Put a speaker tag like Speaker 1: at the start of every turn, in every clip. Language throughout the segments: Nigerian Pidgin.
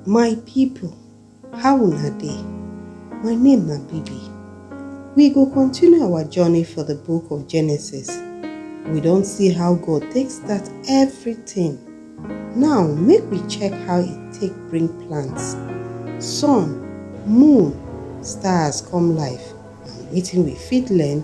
Speaker 1: My people, how una dey? My name na Bibi. We go continue our journey for the book of Genesis. We don see how God take start everything. Now, make we check how e take bring plants, sun, moon, stars come life and wetin we fit learn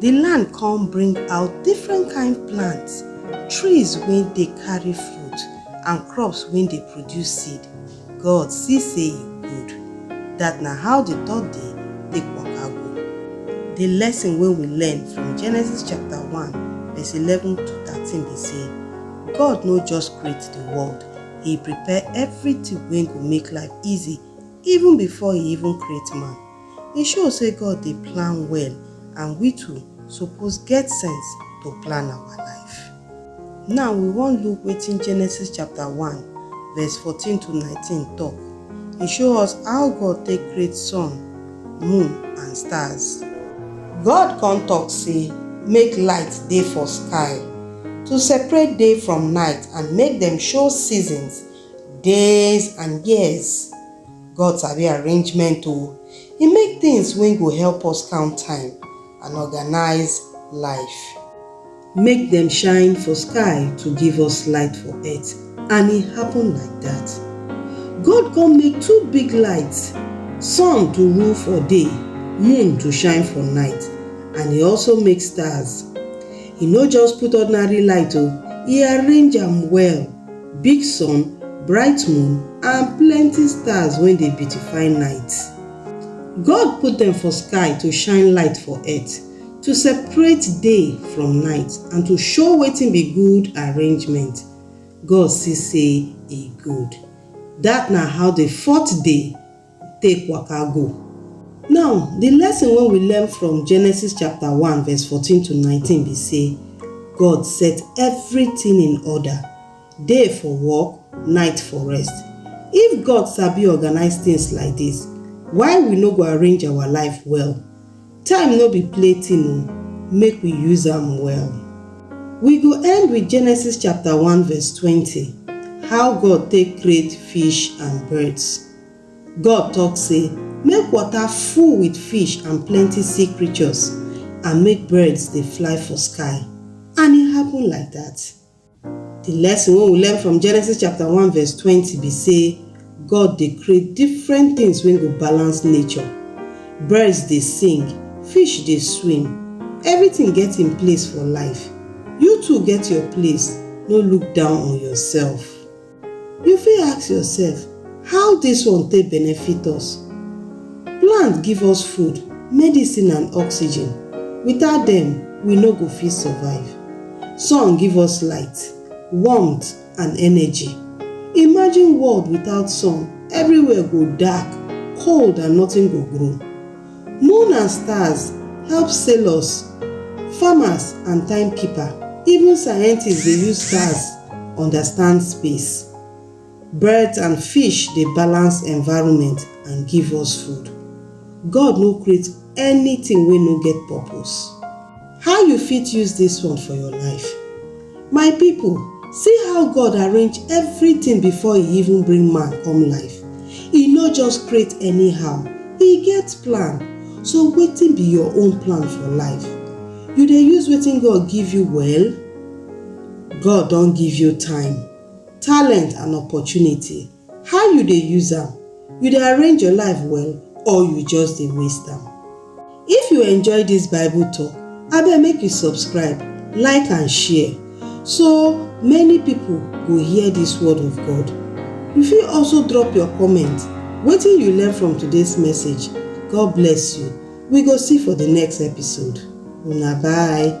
Speaker 1: Di land kon bring out different kind plants, trees wey dey karry fruit and crops wey dey produce seed. God si sey e good. Dat na how di third day take waka go. Di lesson wey we learn from Genesis chapter one verse eleven to thirteen be sey, God no just create di world, E prepare everything wey go make life easy even before E even create man. E show say God dey plan well and we too suppose get sense to plan our life. Now we wan look wetin Genesis chapter one verse fourteen to nineteen talk. E show us how God take create sun, moon and stars. God come talk say make light dey for sky to separate day from night and make dem show seasons, days and years. God sabi arrangement o, He make things wey go help us count time and organize life. Make dem shine for sky to give us light for earth and e happen like that. God come make two big lights, sun to rule for day, moon to shine for night and e also make stars. He no just put ordinary light o, e arrange am well. big sun, bright moon and plenty stars wey dey beautify night. God put dem for sky to shine light for earth, to separate day from night and to show wetin be good arrangement. God see sey e good. Dat na how the fourth day take waka go. Now, di lesson wey we learn from Genesis chapter one verse fourteen to nineteen be sey, God set everything in order, day for work, night for rest. If God sabi organize things like dis, why we no go arrange our life well? Time no be play thing o, make we use am well. We go end with Genesis chapter one verse twenty, how God take create fish and birds. God tok sey, Make water full wit fish and plenty sea creatures, and make birds dey fly for sky. And e happen like dat. Di lesson wey we learn from Genesis chapter one verse twenty be sey, God dey create different tins wey go balance nature. Birds dey sing, fish dey swim, everytin get im place for life. You too get your place, no look down on yoursef. You fit ask yourself how dis one take benefit us. Plant give us food, medicine and oxygen, without dem we no go fit survive. Sun give us light, warmth and energy. Imagine world without sun, everywhere go dark, cold and nothing go grow. Moon and stars help sailors, farmers and time keeper. Even scientists dey use stars understand space. Birds and fish dey balance environment and give us food. God no create anything wey no get purpose. How you fit use dis one for your life? My pipo, see how God arrange evritin bifor e even bring man come life. E no just create anyhow, e get plan. So wetin be your own plan for life? You dey use wetin God give you well? God don give you time, talent and opportunity. How you dey use am? You dey arrange your life well or you just dey waste am? If you enjoy dis Bible talk, abeg make you subscribe, like and share so many people go hear dis word of God. You fit also drop your comment, wetin you learn from today's message? God bless you. We go see for the next episode. Una bye.